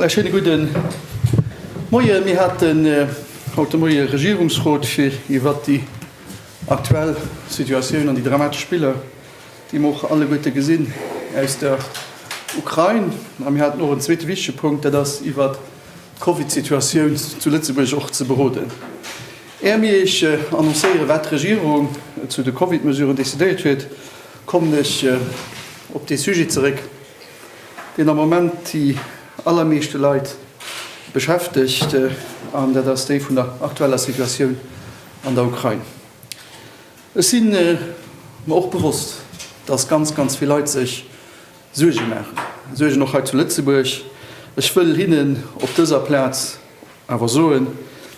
Voilà, schöne guten Moien. Mir hatten äh, haut de Moie Regierungsrot fir iwwer déi aktuell Situatioun an déi dramatesch Spiller dee mer och alleguerte gesinn aus der Ukrain. A mir haten och en zweete wichtege Punkt, dat ass iwwert d'Covidsituatioun zu Lëtzebuerg och ze beroden. Är mir Iech annoncéieren, wat d'Regierung zu de Covidmesuren decidéiert huet, kommen ech op dee Sujet zeréck, deen am Moment déi allermeeschte Leit beschäftegt, an dat ass dee vun der aktueller Situatioun an der Ukrain. Ech si mer och bewosst, dass ganz, ganz vill Leit sech Suerge maachen, Suergen och hei zu Lëtzebuerg. Ech wëll hinnen op dëser Plaz awer soen,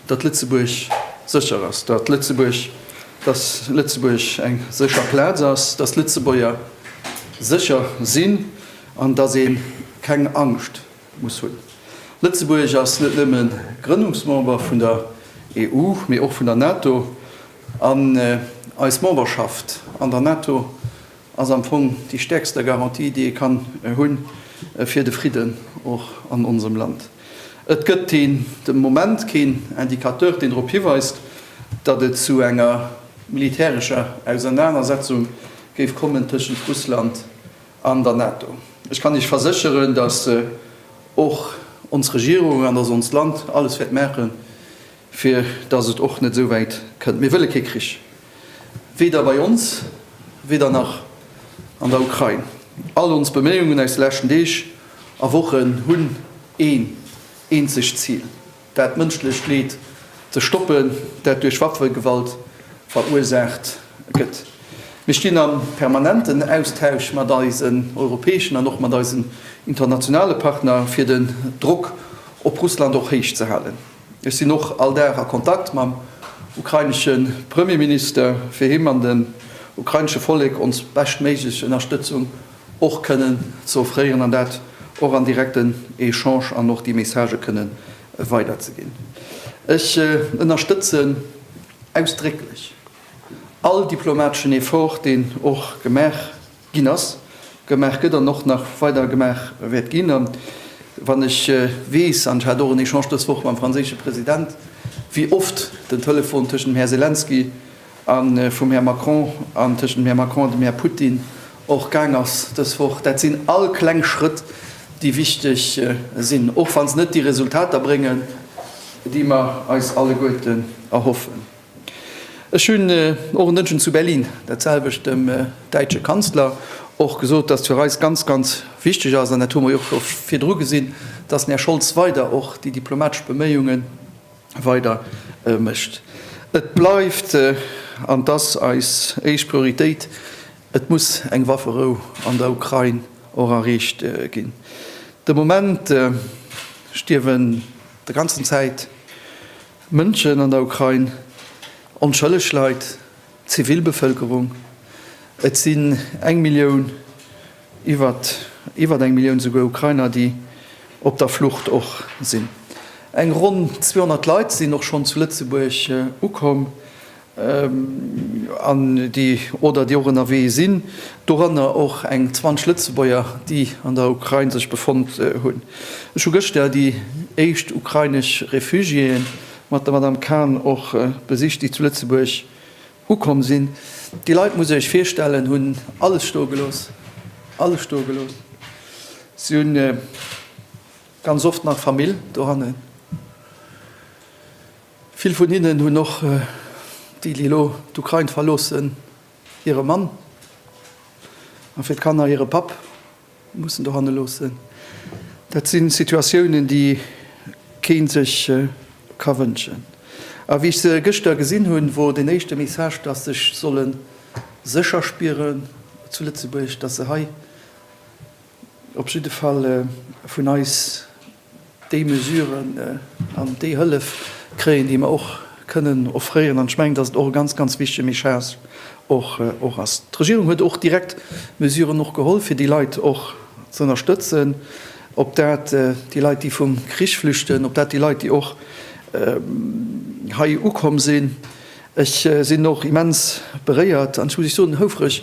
datt Lëtzebuerg sécher ass, datt Lëtzebuerg, datt Lëtzebuerg eng sécher Plaz ass, datt d'Lëtzebuerger sécher sinn an datt ee keng Angscht, muss hunn. Lëtzebuerg ass net nëmme Grënnungsmember vun der EU, mee och vun der NATO. An eis Memberschaft an der NATO ass am Fong déi stäerkster Garantie, déi ee kann hunn, fir de Fridden och an onsem Land. Et gëtt den Moment keen Indicateur, deen drop hiweist, datt et zu enger militärescher Ausernanersetzung géif kommen tëschent Russland An der NATO. Ech kann Iech versécheren, dass och ons Regierung an dass onst Land alles wäert maachen, fir dass et och net esou wäit kënnt. Mir wëlle kee Krich, weder bei ons, weder nach an der Ukrain. All ons Beméiungen aus de leschten Deeg a Wochen hunn een eenzegt Zil. Dat mënschlecht Leed ze stoppen, dat duerch Waffegewalt verursaacht gëtt. Mir stinn am permanenten Austausch mat eisen europäeschen an och mat eisen internationale Partner, fir den Drock op Russland och héich ze halen. Ech sinn och all Dag a Kontakt mam ukrainesche Premierminister, fir him an dem ukrainesche Vollek ons beschtméiglech Ënnerstëtzung och kënnen ze offréieren an dat och an direkten Echange an och déi Messagë kënnen weiderzeginn. Ech ënnerstëtzen ausdrécklech all diplomateschen Effort, deen och gemaach ginn ass, gemaach gëtt an och nach weider gemaach wäert ginn. A wann ech weess, an ech hat och en Echange dës Woch mam franséische President, wéi oft den Telefon tëschent dem Här Selenskyj, a vum Här Macron an tëschent dem Här Macron an dem Här Putin och gaang ass dës Woch, dat sinn all kleng Schrëtt, déi wichteg sinn, och wa se net déi Resultater bréngen, déi mer eis alleguerten erhoffen. Ech hunn och en Dënschden zu Berlin dat selwecht dem däitsche Kanzler och gesot, dass fir eis ganz, ganz wichteg ass, an dat hu mer jo och scho virdru gesinn, dass den Här Scholz weider och déi diplomatesch Beméiungen, weider mécht. Et bleift, an et ass eis éischt Prioritéit, et muss eng Wafferou an der Ukrain och erreecht ginn. De Moment stierwen der ganzen Zäit Mënschen an der Ukrain, onschëlleg Leit, d'Zivilbevëlkerung. Et sinn eng Millioun. Iwwert iwwert eng Millioun souguer Ukrainer, déi op der Flucht och sinn. Eng ronn 200 Leit sinn och schonn zu Lëtzebuerg ukomm an déi oder déi och ënnerwee sinn, doranner och eng 20 Lëtzebuerger, déi an der Ukrain sech befonnt hunn. Ech hu gëschter déi éischt ukrainesch Refugiéë mat der Madame Khan och besicht, déi zu Lëtzebuerg Ukomm sinn. Déi Leit, musst Dir Iech virstellen, hunn alles stoe gelooss, alles stoe gelooss. Si hunn ganz oft nach Famill dohannen. Vill vun hinnen hunn och, déi, déi elo d'Ukrain verloossen, hire Mann, a fir d'Kanner hire Papp. Mussen dohanne loossen. Dat si Situatiounen, déi kee sech ka wënschen. A wéi ech se gëschter gesinn hunn, wor den éischte Message, dass sech solle sécher spieren zu Lëtzebuerg, dass se hei op jidde Fall vun eis, Déi Mesuren an déi Hëllef kréien, déi mer och kënnen offréieren. An ech mengen, dass et och e ganz, ganz wichtige Message och ass. D'Regierung huet och direkt Mesuren och geholl, fir déi Leit och ze ënnerstëtzen, ob dat déi Leit, déi vum Krich flüchten, ob dat déi Leit, déi och hei ukomm sinn. Ech sinn och immens beréiert an, ech muss Iech soen, houfreg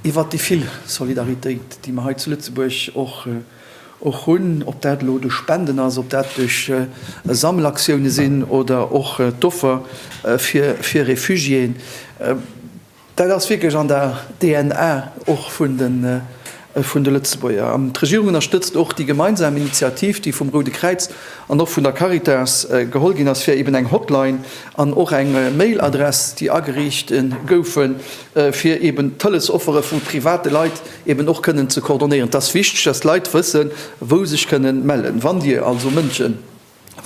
iwwert déi vill Solidaritéit, déi mer hei zu Lëtzebuerg och Och hunn, ob dat elo duerch Spenden ass, ob dat duerch Sammelaktioune sinn oder och d'Offer fir Refugiéen, dat ass wierklech an der DNA och vun de Lëtzebuerger. An d'Regierung ënnerstëtzt och déi gemeinsam Initiativ, déi vum Roude Kräiz an och vun der Caritas geholl ginn ass, fir eben eng Hotline an och eng Mail-Adress, déi ageriicht goufen, fir eben d'Hëllesoffere vu private Leit eben och kënnen ze coordonéieren. Et ass wichteg, dass d'Leit wëssen, wou sech kënnen mellen. Wann Dir also Mënsche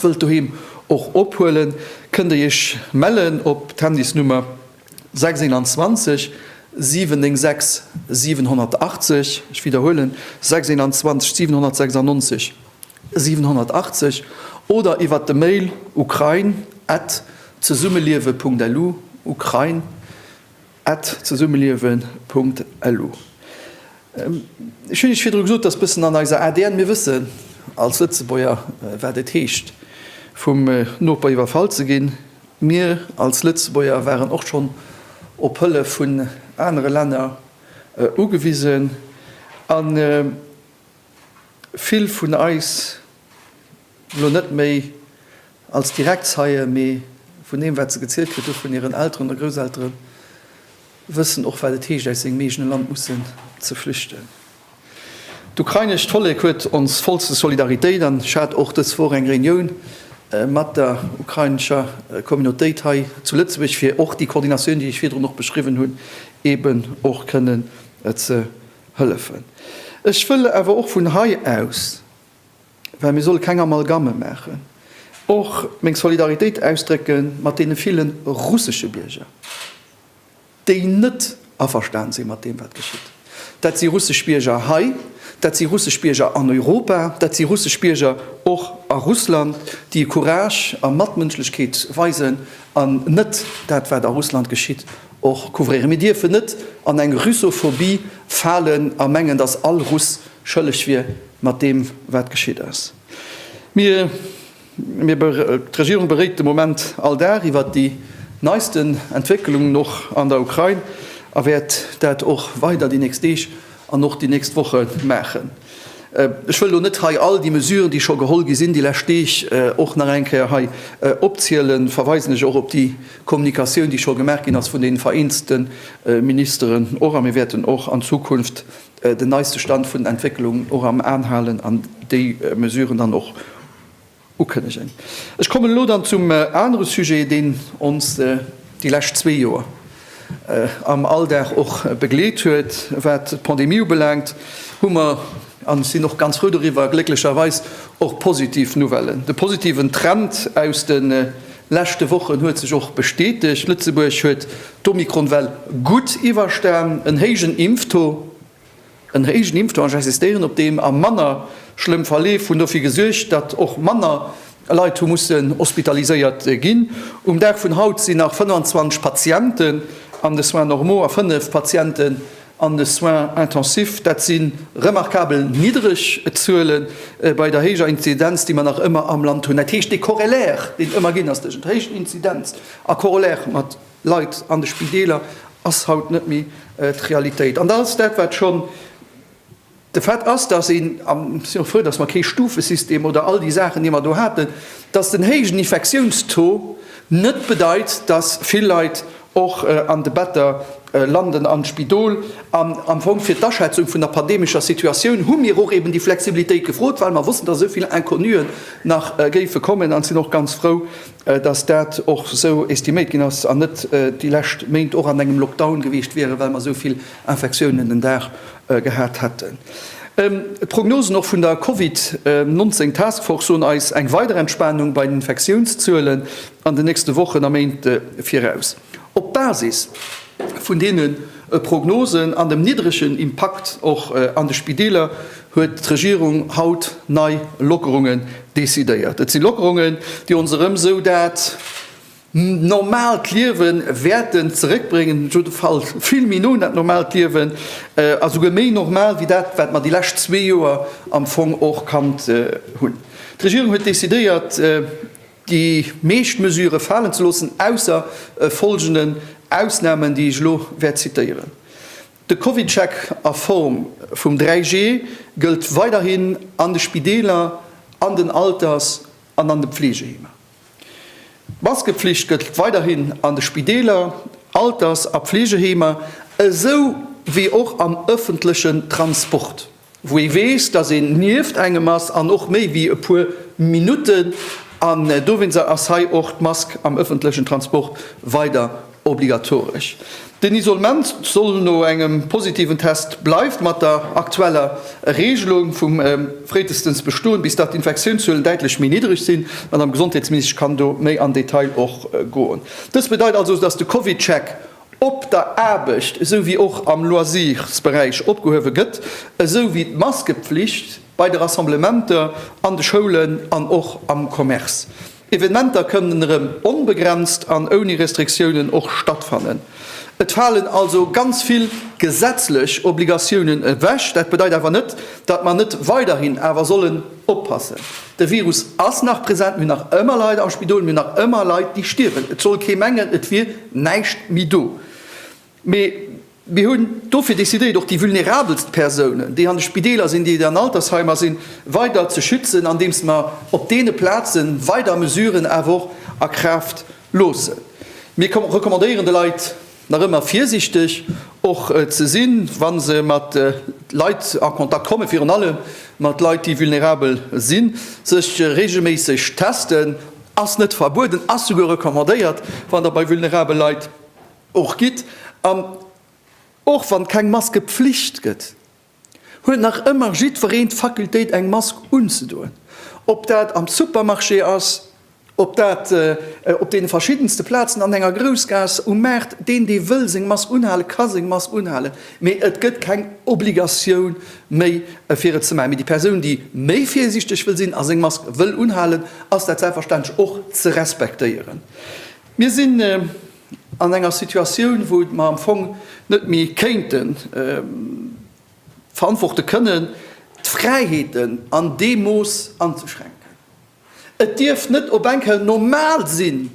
wëllt doheem och ophuelen, kënnt Dir Iech mellen op d'Handysnummer 621 796 780. Ech widderhuelen, 621 796. 780 oder iwwert de Mail ukrain at zesummeliewe.lu, ukrain at zesummeliewe.lu. Ech hunn Iech virdru gesot, dat ass e bëssen an eiser ADN. Mir wëssen als Lëtzebuerger, wat et heescht, vum Noper iwwerfall ze ginn. Mir als Lëtzebuerger waren och schonn op Hëllef vun anere Länner ugewisen. Vill vun eis elo net méi als direkt Zeien, mee vun deem, wat se gezielt kritt hu vun hiren Elteren oder Grousselteren, wëssen och, wat et heescht, aus sengem eegene Land mussen ze flüchten. D'ukrainescht Vollek huet ons vollste Solidaritéit an ech hat och dës Woch eng Reunioun mat der ukrainescher Communautéit hei zu Lëtzebuerg, fir och déi Koordinatioun, déi ech virdrun och beschriwwen hunn, eeben och kënnen ze Hëllefen. Ech wëll awer och vun hei aus, well mir solle keng Amalgamme maachen, och meng Solidaritéit ausdrécke mat deene ville russesche Bierger, déi net averstan si mat deem, wat geschitt. Dat si russesch Bierger hei, dat si russesch Bierger an Europa, dat si russesch Bierger och a Russland, déi Courage a Matmënschlechkeet weisen an net dat, wat a Russland geschitt, och couvrieren. Mir dierfen net an eng Russophobie falen a mengen, dass all Russ schëlleg wier mat deem, wat geschitt ass. Mir, d'Regierung, beréit de Moment all Dag iwwert déi neisten Entwécklungen och an der Ukrain a wäert dat och weider déi nächst Deeg An och déi nächst Woche maachen. Ech wëll elo net hei all déi Mesuren, déi scho geholl gi sinn déi lescht Deeg, och nach eng Kéier hei opzielen. Verweisen ech och op déi Kommunikatioun, déi scho gemaach ginn ass vun deenen vereenzelte Ministeren och. A mir wäerten och an Zukunft den neiste Stand vun den Entwécklungen och am An halen an déi Mesuren dann och Ukënnegen. Ech kommen elo dann zum anere Sujet, deen ons déi lescht zwee Joer am Alldag och begleet huet, wat d'Pandemie ubelaangt, hu mer, an ech sinn och ganz frou doriwwer, glécklecherweis och positiv Nouvellen. De positiven Trend aus de leschte Wochen huet sech och bestätegt. Lëtzebuerg huet d'Omikron-Well gutt iwwerstan, en héijen Impftaux, En héijen Impftaux, ech insistéieren op deem, a manner schlëmm Verleef hunn dofir gesuergt, datt och manner Leit hu mussen hospitaliséiert ginn. Um Dag vun haut sinn nach 25 Patienten an de Soins normaux a 5 Patienten an de Soins intensifs. Dat si remarkabel niddreg Zuele bei der héijer Inzidenz, déi mer nach ëmmer am Land hunn. Dat heescht, dee Korrelär, deen et ëmmer ginn ass tëschent héijen Inzidenz a Korrelär mat Leit an de Spideeler ass haut net méi d'Realitéit. An da ass dat, wat schonn de Fait ass, dass een, a mir si och frou, dass mer kee Stufesystem oder all déi Saachen, déi mer do haten, dass den héijen Infektiounstaux net bedeit, dass vill Leit och an de Better landen am Spidol. An am Fong fir d'Aschätzung vun der pandemescher Situatioun hu mir och eben déi Flexibilitéit gefrot, well mer wossten, dass esou vill Inconnuen nach géife kommen, a sinn och ganz frou, dass dat och esou estiméiert ginn ass an net déi lescht Méint och an engem Lockdown gewiescht wieren, well mer esou vill Infektiounen den Dag gehat hätten. D'Prognosen och vun der Covid 19 Task Force soen eis eng weider Entspanung bei den Infektiounszuelen an den nächste Wochen a Méint viraus. Op Basis vun deene Prognosen an dem niddregen Impakt och an de Spideeler huet d'Regierung haut nei Lockerunge decidéiert. Et si Lockerungen, déi ons erëm esou dat normaalt Liewe wäerte zeréckbréngen, op jidde Fall vill méi no un dat normaalt Liewen a souguer méi normal wéi dat, wat mer déi lescht zwee Joer am Fong och kannt hunn. D'Regierung huet decidéiert, Déi meescht Mesure falen ze loossen, ausser e folgenden Ausnamen, déi ech elo wäert zitéieren, De CovidCheck a Form vum 3G gëllt weiderhin an de Spideeler, an den Alters an an de Pfleegeheemer. D'Maskepflicht gëllt weiderhin an de Spideeler, Alters a Pfleegeheemer, esou wéi och am ëffentlechen Transport. wou ee weess, dass een nieft engem ass an och méi wéi e puer Minutten, an dowéinst ass hei och d'Mask am ëffentlechen Transport weider obligatoresch. Den Isolement soll no engem positiven Test bleift mat der aktueller Reegelung vum fréitestens bestoen, bis datt d'Infektiounszuelen däitlech méi niddreg sinn, d'Madame Gesondheetsministesch kann do méi am Detail och goen. Dëst bedeit also, dass de CovidCheck op der Aarbecht esou wéi och am Loisirsberäich opgehuewe gëtt, esou wéi d'Maskepflicht bei de Rassemblementer an de Schoulen an och am Commerce. Evenementer kënnen erëm onbegrenzt an ouni Restriktiounen och stattfannen. Et falen also ganz vill gesetzlech Obligatiounen ewech. Dat bedeit awer net, datt mer net weiderhin awer sollen. Oppassen, de Virus ass nach present, mir hunn nach ëmmer Leit am Spidol, mir hunn nach ëmmer Leit, déi stierwen. Et soll kee mengen, et wier näischt méi do. Mee mir hunn dofir decidéiert, och déi vulnerabelst Persounen, déi an de Spideeler sinn, déi an Altersheimer sinn, weider ze schützen, andeems mer op deene Plaze weider Mesuren awer och a Kraaft loossen. Mir recommandéieren de Leit, nach ëmmer virsiichteg och ze sinn, wa se mat Leit a Kontakt kommen, virun allem mat Leit, déi vulnerabel sinn, sech reegelméisseg testen, ass net verbueden, ass souguer recommandéiert, wann Der bei vulnerabel Leit och gitt an och wann keng Maskepflicht gëtt. huet nach ëmmer jiddwereen d'Fakultéit eng Mask unzedoen, ob dat am Supermarché ass, ob dat op deene verschiddenste Plazen an enger Groussgaass, um Maart. Deen dee wëll seng Mask unhalen, ka seng Mask unhalen, mee et gëtt keng Obligatioun méi fir et ze maachen. Mee déi Persoun déi méi virsiichteg wëll sinn a seng Mask wëll unhalen, ass dat selbstverständlech och ze respektéieren. Mir sinn. An enger Situatioun, wou mer am Fong net méi kéinte verantworte kënnen, d'Fräiheeten an deem Mooss anzeschränken. Et dierf net op eng Kéier normal sinn,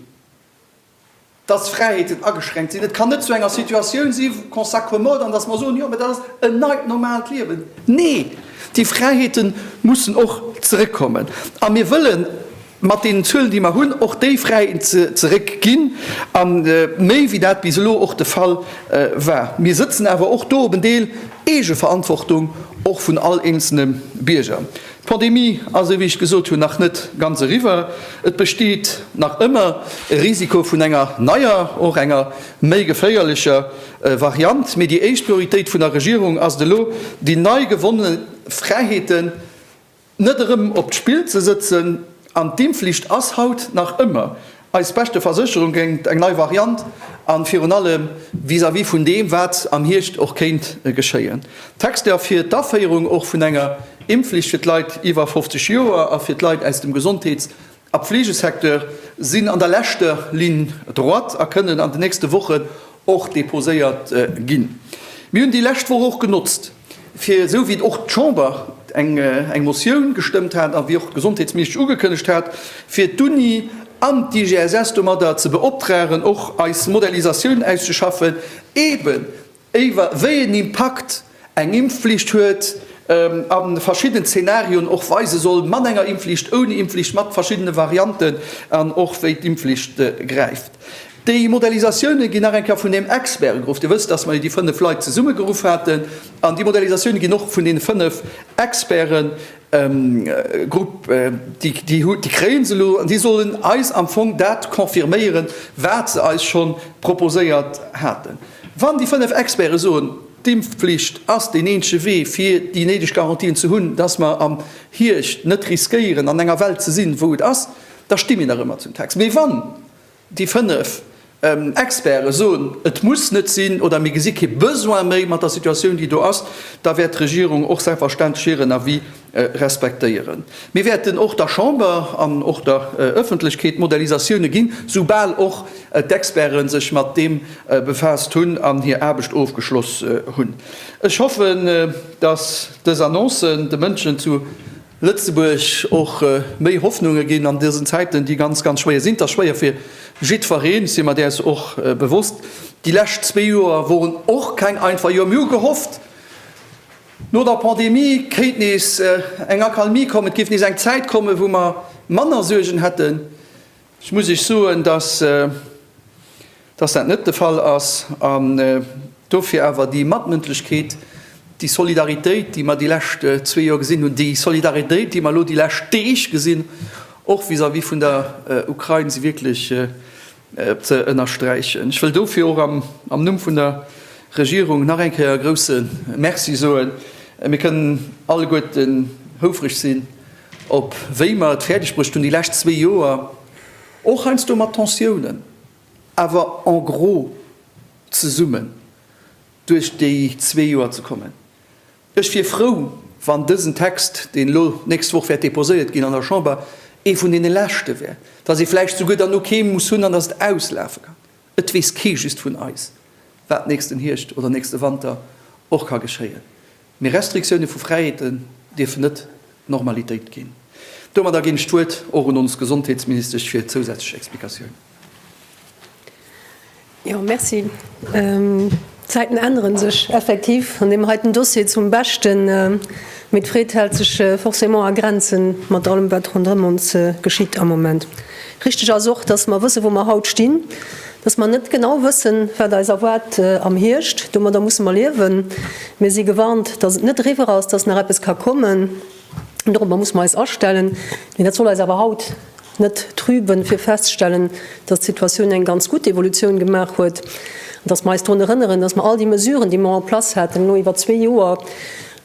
dass Fräiheeten ageschränkt sinn. Et kann net zu enger Situatioun si qu'on s'accommode an dass mer soen, jo, mä dat ass en neit normaalt Liewen. Nee, déi Fräiheete mussen och zeréckkommen. A mir wëllen mat deenen Zuelen, déi mer hunn, och déi Fräiheeten zeréckginn, a méi wéi dat bis elo och de Fall war. Mir sëtzen awer och do op en Deel Eegeverantwortung, och vun all eenzelne Bierger. D'Pandemie ass, esou wéi ech gesot hunn, nach net ganz eriwwer. Et besteet nach ëmmer e Risiko vun enger neier, och enger méi geféierlecher Variant. Mee déi éischt Prioritéit vun der Regierung ass et elo, déi nei gewonne Fräiheeten Net erëm op d'Spill ze sëtzen an d'Impfflicht ass haut nach ëmmer eis beschte Versécherung géingt eng nei Variant an virun allem vis-à-vis vun deem wat am Hierscht och kéint geschéien. D'Texter fir d'Aféierung och vun enger Impfflicht fir d'Leit iwwer 50 Joer a fir d'Leit aus dem Gesondheets a Pflegesecteur sinn an der leschter Ligne droite a kënnen an den nächste Wochen och deposéiert ginn. Mir hunn déi lescht Woch och genotzt, fir, esou wéi och d'Chamber eng Motioun gestëmmt hat a wéi och d'Gesondheetsministesch ugekënnegt hat, fir d'Uni an d'IGSS domadder ze beoptragen, och eis Modellisatioun auszeschaffen, eeben Éiwer wéi een Impakt eng Impfflicht huet, a verschidden Zenarioen och weise soll, mat enger Impfflicht, ouni Impfflicht, mat verschiddene Varianten, an och wéi d'Impfflicht gräift. Déi Modellisatioune ginn nach eng Kéier vun deem Expert geruff. Dir wësst, datt mer jo déi 5 Leit zesummegeruff haten, an déi Modellisatioune ginn och vun deene 5 Experten Grupp, déi kréie se elo an déi sollen eis am Fong dat confirméieren, wat se eis scho proposéiert haten. Wann déi fënnef Experte soen, d'Impfflicht ass deen eenzege Wee fir déi néideg Garantien ze hunn, datt mer am Hiecht net riskéieren an enger Welt ze sinn, wou et ass, da sti mir nach ëmmer zum Text. Mee wann Déi fënnef Experte soen, et muss net sinn oder mir gesi kee Besoin méi mat der Situatioun, déi do ass. Da wäert d'Regierung och selbstverständlech hiren Avis respektéieren. Mir wäerten och der Chamber an och der Öffentlechkeet Modellisatioune ginn, soubal och d'Experte sech mat deem befaasst hunn an hir Aarbecht ofgeschloss hunn. Ech hoffen, dass dës Annoncen de Mënschen zu Lëtzebuerg och méi Hoffnunge ginn an dësen Zäiten, déi ganz, ganz schwéier sinn. Et ass schwéier fir jiddfereen, ech si mer däers och bewosst. Déi lescht zwee Joer woren och keng einfach Joer. Mir hu gehofft, no der Pandemie kéint nees eng Accalmie kommen, et géif nees eng Zäit kommen, wou mer manner Suergen hätten. Ech muss Iech soen, dass dat net de Fall ass, an dofir awer déi Matmëndlechkeet, déi Solidaritéit, déi mer déi lescht zwee Joer gesinn hunn, déi Solidaritéit, déi mer elo déi lescht Deeg gesinn, och vis-à-vis vun der Ukrain, si wierklech ze ënnersträichen. Ech wëll dofir och am Numm vun der Regierung nach eng Kéier e grouse Merci soen. Mir kënnen alleguerten houfreg sinn, Op wéi mer et fäerdeg bruecht hunn, déi lescht zwee Joer, och heiansdo mat Tensiounen, awer en gros zesummen duerch déi zwee Joer ze kommen. Ech wier frou, wann dësen Text, deen elo d'nächst Woch wäert deposéiert ginn an der Chamber, ee vun deene leschte wär, dass ee vläicht souguer dann no keem muss hunn an dass et auslafe kann. Et weess kee just vun eis, wat nächsten Hierscht oder nächste Wanter och ka geschéien. Mee Restriktioune vu Fräiheeten dierfen net d'Normalitéit ginn. Domadder ginn ech d'Wuert och un ons Gesondheetsministesch fir zousätzlech Explikatiounen. Jo, merci. D'Zäiten ännere sech effektiv an deem heiten Dossier zum Beschten, mee d'Freed hält sech forcément a Grenzen mat allem, wat ronderëm ons geschitt am Moment. Richteg ass och, dass mer wëssen, wou mer haut stinn, dass mer net genau wëssen, wat eis erwaart am Hierscht. Domadder musse mer liewen. Mir si gewarnt, dass et net eriwwer ass, dass nach eppes ka kommen. Dorobber musse mer eis astellen. Mee dat soll eis awer haut net trüben, fir festzustellen, dass d'Situatioun eng ganz gutt Evolutioun gemaach huet an dass mer eis drun erënneren, dass mer all déi Mesuren, déi mer en place haten elo iwwer zwee Joer,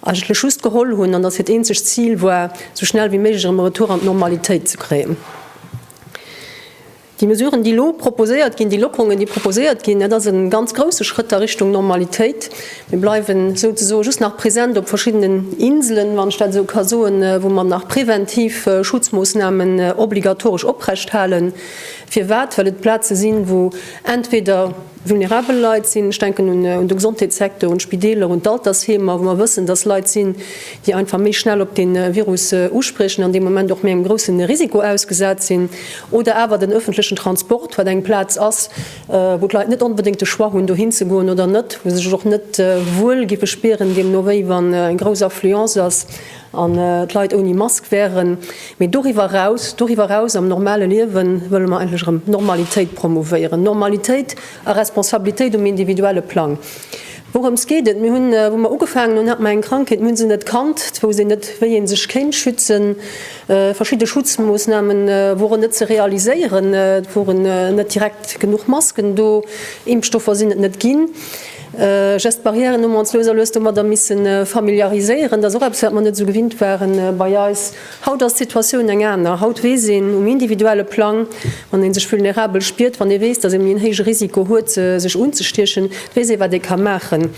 eigentlech just geholl hunn, an datt hiert eenzegt Zil war, esou schnell wéi méiglech erëm e Retour an d'Normalitéit ze kréien. Déi Mesuren, déi elo proposéiert ginn, déi Lockerungen, déi proposéiert ginn, dat ass e ganz grouse Schrëtt a Richtung Normalitéit. Mir bleiwen souzesoen just nach present op verschiddenen Inselen, wann ech dat esou ka soen, wou mer nach präventiv Schutzmoossnamen obligatoresch oprechthalen. Firwat? Well et Plaze sinn, wou entweder, vulnerabel Leit sinn. Ech denken un de Gesondheetssecteur, un d'Spideeler, un d'Altersheemer, wou mer wëssen, dass Leit sinn, déi einfach méi schnell op dee Virus uspriechen an dee Moment och méi engem grousse Risiko ausgesat sinn. Oder awer den öffentlechen Transport, wat eng Plaz ass, wou d'Leit net onbedéngt de Choix hunn, dohin ze goen oder net, wou se sech och net wuel géife spieren deemno wéi wann eng grouss Affluence ass. An d'Leit ouni Mask wären. Mee doriwwer eraus, doriwwer eraus am normale Liewe wëlle mer eigentlech erëm Normalitéit promouvéieren. Normalitéit a Responsabilitéit um individuelle Plang. Wourëms geet et? Mir hunn, wou mer ugefaangen hunn, hat mer eng Krankheet, mir hu se net kannt, et wousst een net, wéi ee sech kéint schützen. Verschidde Schutzmoossname woren net ze realiséieren, et woren net direkt genuch Masken do, Impfstoffer sinn et net ginn. Just d'Barrièren hu mer ons lues a lues domadder misse familiariséieren. Dat ass och eppes, wat mer net esou gewinnt waren bei eis. Haut ass d'Situatioun eng aner. Haut weess een um individuelle Plang, wann ee sech vulnerabel spiert, wann ee weess, datt ee méi en héije Risiko huet, sech unzestiechen, weess ee, wat ee ka maachen.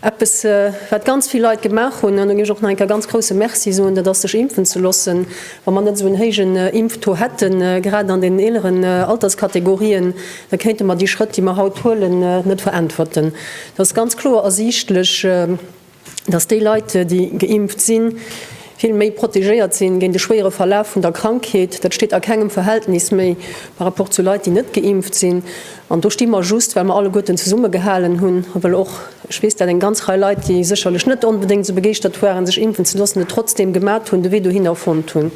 Eppes, wat ganz vill Leit gemaach hunn, an do géif ech och nach eng Kéier ganz grousse Merci soen, dat ass, sech impfen ze loossen. Wa mer net esou en héijen Impftaux hätten, grad an den eeleren Alterskategorien, da kéinte mer déi Schrëtt, déi mer haut huelen, net veräntwerten. Et ass ganz kloer ersiichtlech, dass déi Leit, déi geimpft sinn, vill méi protegéiert sinn géint e schwéiere Verlaf vun der Krankheet. Dat steet a kengem Verhältnis méi par rapport zu Leit, déi net geimpft sinn. An do sti mer just, well mer alleguerten zesummegehalen hunn a well och, ech weess dat, eng ganz Rei Leit, déi sécherlech net onbedéngt esou begeeschtert waren, sech impfen ze loossen, et trotzdeem gemat hunn, de Wee dohinner fonnt hunn.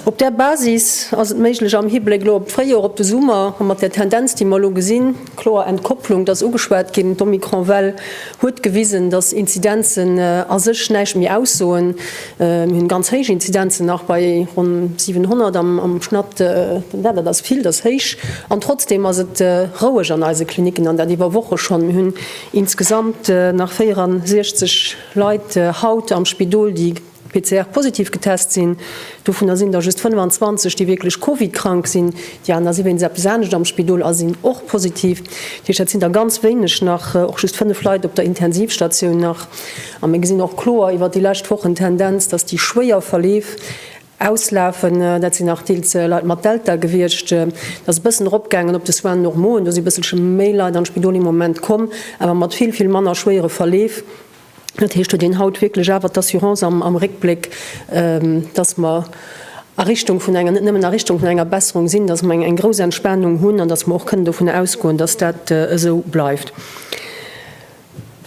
Op där Basis ass et méiglech, am Hibléck elo op d'Fréijoer, op de Summer a mat där Tendenz, déi mer elo gesinn, kloer Entkopplung, et ass ugeschwat ginn, d'Omikron-Well huet gewisen, dass Inzidenzen a sech näischt méi aussoen, Mir hunn ganz héich Inzidenzen, nach bei ronn 700 am Schnatt. Den Wert, dat ass vill, dat ass héich. An trotzdeem ass et roueg an eise Klinicken, an dat iwwer Woche schonn. Mir hunn insgesamt nach 64 Leit haut am Spidol, déi PCR-positiv getest sinn. Dovunner sinn der just 25, déi wierklech Covid-krank sinn. Déi aner si wéinst eppes anescht am Spidol a sinn och positiv. Dat heescht, dat sinn der ganz wéineg nach, och just 5 Leit op der Intensivstatioun nach. A mir gesinn och kloer iwwert déi lescht Wochen d'Tendenz, dass déi schwéier Verleef auslafen. Dat sinn nach deels Leit mat Delta gewiescht. Et ass e bëssen eropgaangen op de Soins normaux, do si bësselche méi Leit an d'Spidol um Moment komm, awer mat vill, vill manner schwéiere Verleef. Dat heescht, huet een haut wierklech awer d'Assurance am Réckbléck, dass mer a Richtung vun enger, net nëmmen a Richtung vun enger Besserung sinn, dass mer eng grouss Entspanung hunn an dass mer och kënnen dovun ausgoen, dass dat esou bleift.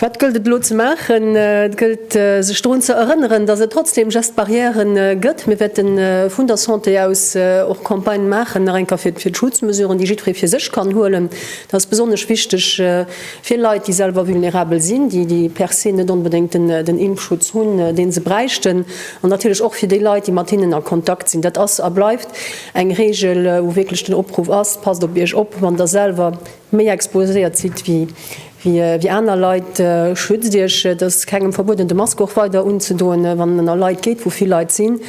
Wat gëllt et elo ze maachen? Et gëllt sech drun ze erënneren, datt et trotzdem Gestes barrières gëtt. Mir wäerte vun der Santé aus och Campagnë maachen, nach eng Kéier fir d'Schutzmesuren, déi jiddweree fir sech kann huelen. Dat ass besonnesch wichteg fir Leit, déi selwer vulnerabel sinn, déi per se net onbedéngt den Impfschutz hunn, dee se bräichten, an natierlech och fir déi Leit, déi mat hinnen a Kontakt sinn. Dat ass a bleift eng Reegel, wou wierklech den Opruff ass, Passt op Iech op, wann Der selwer. Méi exposéiert sidd wéi aner Leit, schützt iech. Et ass kengem verbueden de Mask och weider unzedoen wann en a Leit geet wou vill Leit sinn.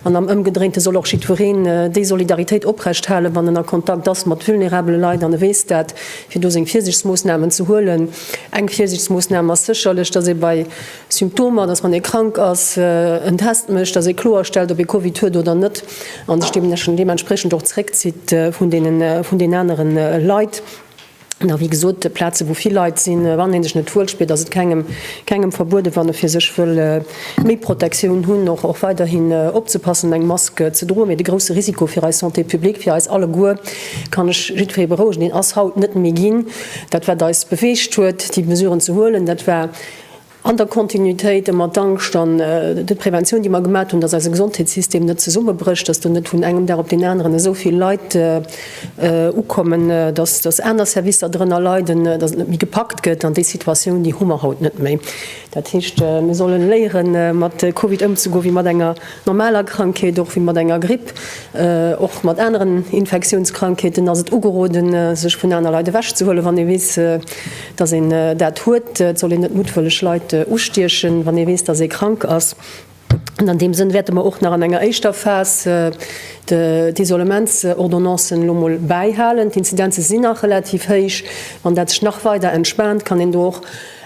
An am ëmgedréinte soll och jiddwereen déi Solidaritéit oprecht halen wann en a Kontakt ass mat vulnerabele Leit an e weess dat, fir do seng Virsiichtsmoossnamen ze huelen. Eng Virsiichtsmoossnam ass sécherlech, datt ee bei Symptomer, dass wann ee krank ass, en Test mécht, dass ee kloer stellt, ob ee Covid huet oder net a sech deementspriechend och zréckzitt vun den anere Leit. An wéi gesot, op Plaze wou vill Leit sinn, wann ee sech net wuel spiert, ass et kengem verbueden, wann e fir sech wëll méi Protektioun hunn, och weiderhin opzepassen an eng Mask ze droen. Mee de grousse Risiko fir eis Santé publique, fir eis alleguer, kann ech jiddweree berouegen, deen ass haut net méi ginn. Dat wat eis beweegt huet déi Mesuren ze huelen, dat war, An der Kontinuitéit ëmmer d'Angscht an d'Preventioun, déi mer gemat hunn, dass eise Gesondheetssystem net zesummebrécht, dass do net vun engem Dag op deen aneren esou vill Leit ukommen, dass aner Servicer drënner leiden, dass et net méi gepackt gëtt. An déi Situatioun, déi hu mer haut net méi. Dat heescht, mir sollen léieren, mat Covid ëmzegoen wéi mat enger normaler Krankheet, och wéi mat enger Gripp, och mat aneren Infektiounskrankheeten ass et ugeroden, sech vun aner Leit ewechzehuelen, wann ee weess, Datt een dat huet, et soll een net muttwëlleg Leit ustiechen, wann ee weess, datt ee krank ass. An an deem Sënn wäerte mer och nach an enger éischter Phas d'Isolementsordonnancen elo emol bäihalen. D'Inzidenze sinn nach relativ héich. Wann dat sech nach weider entspaant, kann een do och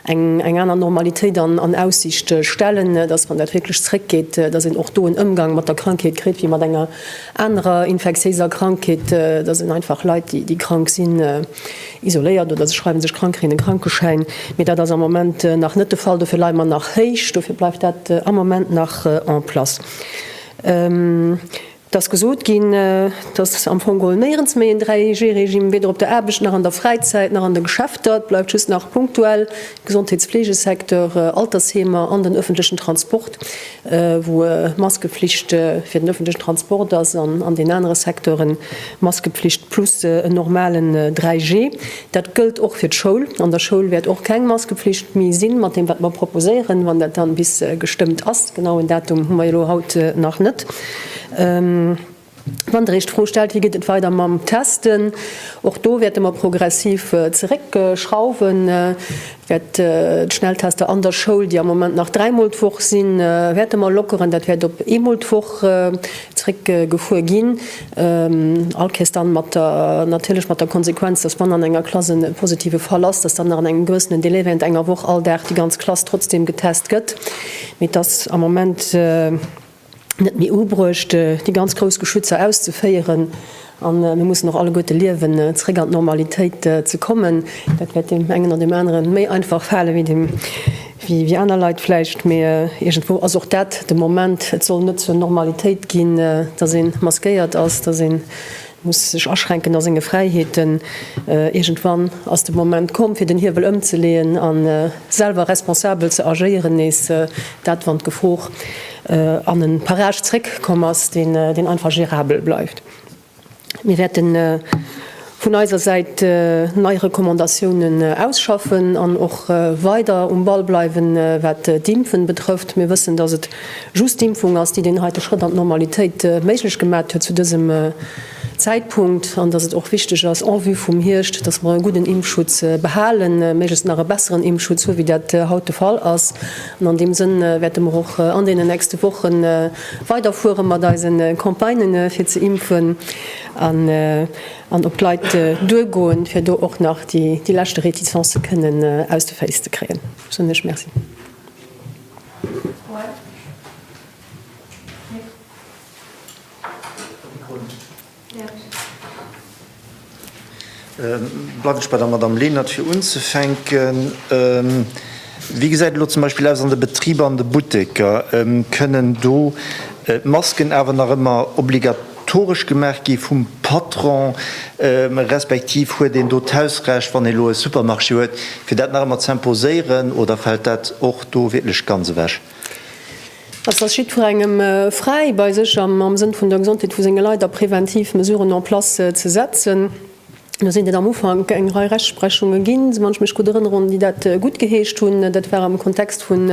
eng aner Normalitéit an Aussicht stellen, datt, wann dat wierklech zréckgeet, datt een och do en Ëmgang mat der Krankheet kritt wéi mat enger anerer infektiéiser Krankheet, datt een einfach Leit, déi krank sinn, Isoléiert oder se schreiwe sech krank, krigen e Krankeschäin. Mee dat ass am Moment nach net de Fall. Dofir leie mer nach héich. Dofir bleift dat am Moment nach en place. Et ass gesot ginn, dass am Fong geholl néierens méi en 3G-Regime, weder op der Aarbecht nach an der Fräizäit nach an de Geschäfter. Et bleift just nach punktuell Gesondheets-Fleegesecteur, Altersheemer an den ëffentlechen Transport. wou Maskeflicht fir den ëffentlechen Transport ass an an den anere Secteuren Maskepflicht plus en normalen 3G. Dat gëllt och fir d'Schoul. An der Schoul wäert och keng Maskepflicht méi sinn, mat deem wat mer proposéieren, wann dat dann bis gestëmmt ass. Genauen Datum hu mer jo elo haut nach net. Wann Der Iech d'Fro stellt, wéi geet et weider mam Testen, och do wäerte mer progressiv zeréckschrauwen, wäert d'Schnelltester an der Schoul, déi am Moment nach dräimol d'Woch sinn, wäerte mer lockeren. Dat wäert op eemol d'Woch zeréckgefuer ginn, allkéiers dann mat der, natierlech mat der Konsequenz, dass wann an enger Klass e positive Fall ass, dass dann nach an engem gewëssenen Delai während enger Woch all Dag déi ganz Klass trotzdem getest gëtt. Mee et ass am Moment. net méi ubruecht, déi ganz grouss Geschützer auszeféieren, a mir mussen och alleguerte liewen, zeréck an d'Normalitéit ze kommen. Dat wäert deem engen an deem anere méi einfach fale wéi aner Leit vläicht, mee iergendwou ass och dat de Moment. Et soll net zur Normalitéit ginn, datt ee maskéiert ass, datt een muss sech aschränken a senge Fräiheeten, iergendwann ass de Moment komm fir den Hiewel ëmzeleeën a selwer responsabel ze agéieren, nees dat wann d'Gefor an e Parage zréck komm ass, deen einfach gérabel bleift. Mir wäerte vun eiser Säit nei Recommandatiounen ausschaffen an och weider um Ball bleiwen, wat d'Impfen betrëfft. Mir wëssen, datt et Just d'Impfung ass, déi deen heite Schrëtt an d'Normalitéit méiglech gemat huet zu dësem Zäitpunkt, an dass et och wichteg ass en vue vum Hierscht, dass mer e gudden Impfschutz behalen, méiglechst nach e besseren Impfschutz hu wéi dat haut de Fall ass. An an deem Sënn wäerte mer och an deenen nächste Woche weiderfuere mat eise Campagnë fir ze impfen an op d'Leit duergoen, fir do och nach déi leschte Retizancë kënnen aus de Féiss ze kréien, soen ech Merci. Bleiwen ech bei der Madamm Lenert, fir unzefänken. Wéi gesäit et elo zum Beispill aus an de Betriber, an de Butteker? Kënnen do d'Masken awer nach ëmmer obliga-? Toresch gemaach gi vum Patron, respektiv huet een do d'Hausrecht, wann ee elo e Supermarché huet, fir dat nach ëmmer ze imposéieren, oder fält dat och do wierklech ganz ewech? Et ass jiddwerengem fräi, bei sech am Sënn vun der Gesondheet vu senge Leit a preventiv Mesuren en place ze setzen. Do sinn et am Ufank eng Rei Rechtsprechunge ginn, wann ech mech gutt erënneren, déi dat guttgeheescht hunn. Dat war am Kontext vun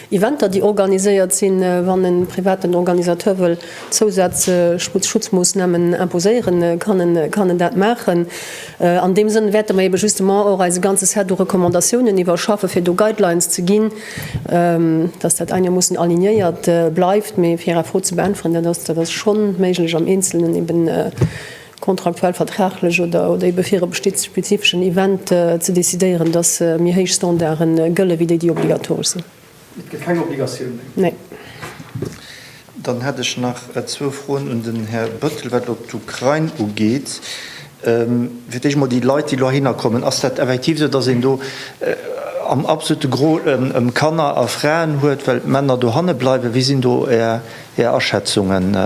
Eventer, déi organiséiert sinn, wann e privaten Organisateur wëll Zousazschutzmoossnamen imposéieren, kann en dat maachen. An deem Sënn wäerte mer eebe justement och eise ganze Set u Recommandatiounen iwwerschaffe fir do Guidelines ze ginn, dass dat einermoossen alignéiert bleift. Mee fir Är Fro ze beäntweren, dat ass schonn méiglech am Eenzelnen eeben. contractuel, vertraglech oder ebe fir e besti spezifeschen Event ze decidéieren, dass méi héich Standarde gëlle wéi déi, déi obligatoresch sinn. Et gëtt keng Obligatioun méi? Nee. Dann hätt ech nach zwou Froen un den Här Bëttel, wat elo d'Ukrain ugeet. Fir d'éischt emol déi Leit, déi elo heihinner kommen. Ass dat effektiv esou, dass een do am absolute Gros ëm Kanner a Fraen huet, well d'Männer dohanne bleiwen? Wéi sinn do Är Är Aschätzungen?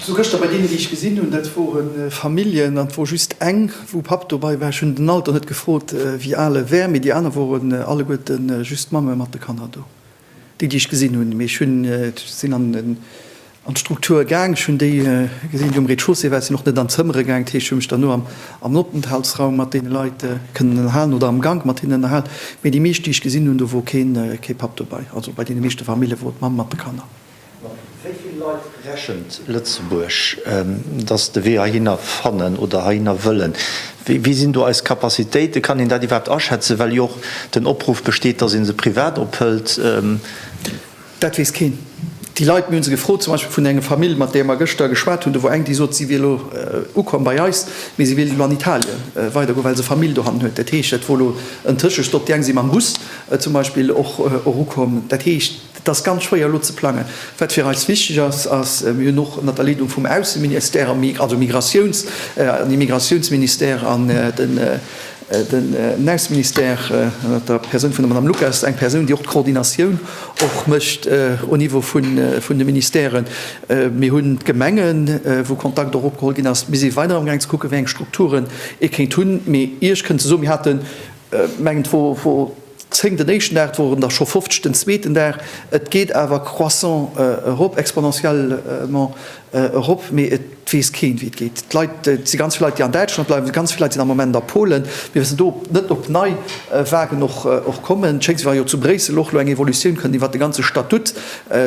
Sou gëschter bei deenen déi ech gesinn hunn, dat woren Familljen an et wor just eng wou Papp dobai war, ech hunn den Alter net gefrot wéi al e wär, mee déi aner woren alleguerten just Mamme mat de Kanner do, déi déi ech gesinn hunn, mee ech hunn sinn an d'Struktur gaang, ech hunn déi gesinn déi um Rez-de-chaussée war, ech sinn och net an d'Zëmmere gaang, dat heescht ech hunn mech dann no am Openthaltsraum mat deene Leit kënnen ënnerhalen oder am Gank mat hinnen ënnerhalen, mee déi meescht déi ech gesinn hunn do wor kee Papp dobai, also bei deene meeschte Famillje wor d'Mamm mat de Kanner. Mat wéi vill Leit rechent Lëtzebuerg, datt de Wee heihinner fannen oder heihinner wëllen? Wéi sinn do eis Capacitéiten? Kann een dat iwwerhaapt aschätzen, well jo och den Opruff besteet, datt ee se privat ophëlt? Dat weess keen. Déi Leit, mir hunn se gefrot, zum Beispill vun enger Famill, mat där mer gëschter geschwat hunn, do wor eng, déi sot, si wier elo ukomm bei eis, mee si wéilt elo an Italien weidergoen, well se Famill dohannen huet. Dat heescht, dat wor elo en Tëschestopp. Déi eng si mam Bus zum Beispill och erukomm. Dat heescht. Et ass ganz schwéier elo ze plangen. Wat fir eis wichteg ass, ass, mir hunn och ënnert der Leedung vum Ausseministère a also Migratiouns an Immigratiounsministère an den den Ausseministère ënnert der Persoun vun der Madame Lucas eng Persoun, déi och d'Coordinatioun och mécht au Niveau vun vun de Ministèren. Mir hunn d'Gemengen, wou Kontakt och opgeholl ginn ass. Mir si weider amgaang ze kucken, wéi eng Strukturen ee kéint hunn. Mee Iech kënnt se soen, mir haten, mengen d'Fro, 10 den éischten Dag, et woren der scho 50 den zweeten Dag. Et geet awer croissant erop, exponentiellement erop, mee et weess keen, wéi et geet. D'Leit, et si ganz vill Leit, déi an Däitschland bleiwen, ganz vill Leit sinn am Moment a Polen. Mir wëssen do net, ob nei Vagen och kommen. Et schéngt, wéi wa jo zu Bréissel och elo eng Evolutioun kënnt iwwert de ganze Statut.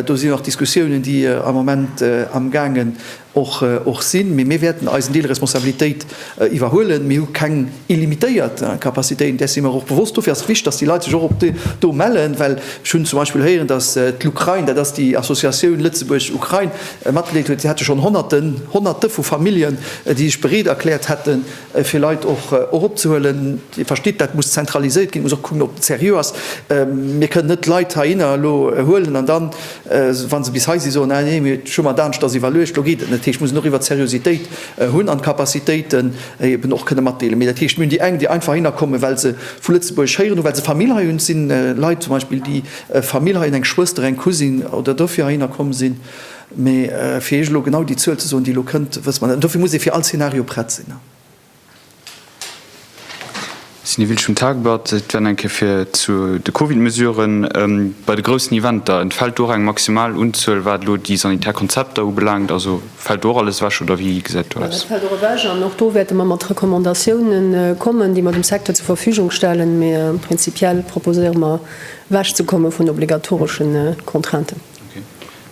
Do sinn jo nach Diskussiounen, déi am Moment amgaange och sinn, mee mir wäerten eisen Deel Responsabilitéit iwwerhuelen. Mir hu keng illimitéiert Capacitéiten, där si mer och bewosst. Dofir ass et wichteg, datt déi Leit sech och op do mellen, well ech hunn zum Beispill héieren, datt d'Lukrain, dat ass déi Associatioun Lëtzebuerg-Ukrain, matgedeelt huet, si hätte schonn Honnerten, Honnerte vu Familljen, déi sech bereet erkläert hätten, fir Leit och eropzehuelen. Dir verstitt, dat muss zentraliséiert ginn, et muss och kucken, ob et seriö ass. Mir kënnen net Leit heihinner elo huelen an dann, wa se bis hei sinn, soen, Ah nee, mir hu mer et aneschters iwwerluecht. Elo geet et net. Dat heescht, mir mussen och iwwert d'Seriositéit hunn an d'Capacitéiten eeben och kënnen matdeelen. Mee dat heescht, mir hunn déi eng, déi einfach heihinner kommen, well se vu Lëtzebuerg héieren hu, well se Famill hei hunn. Et si Leit zum Beispill, déi Famill hei hunn, eng Schwëster, eng Cousine, oder dofir heihinner komm sinn. Mee fir Iech elo genau déi Zuel ze soen, déi elo kënnt, wësse mer net. An dofir muss ee fir all Szenario prett sinn. Cindy Wiltsch vum Tageblatt, Et wär nach eng Kéier fir zu de Covid-Mesuren. Bei de groussen Eventer, entfält do och eng maximal Unzuel, wat elo déi sanitär Konzepter ubelaangt? Also fält do och alles ewech oder wéi gesäit do aus? Well dat fält och ewech an och do wäerte mer mat Recommandatioune kommen, déi mer dem Secteur zur Verfügung stellen. Mee prinzipiell proposéiere mer ewechzekomme vun obligatoreschen Contrainten.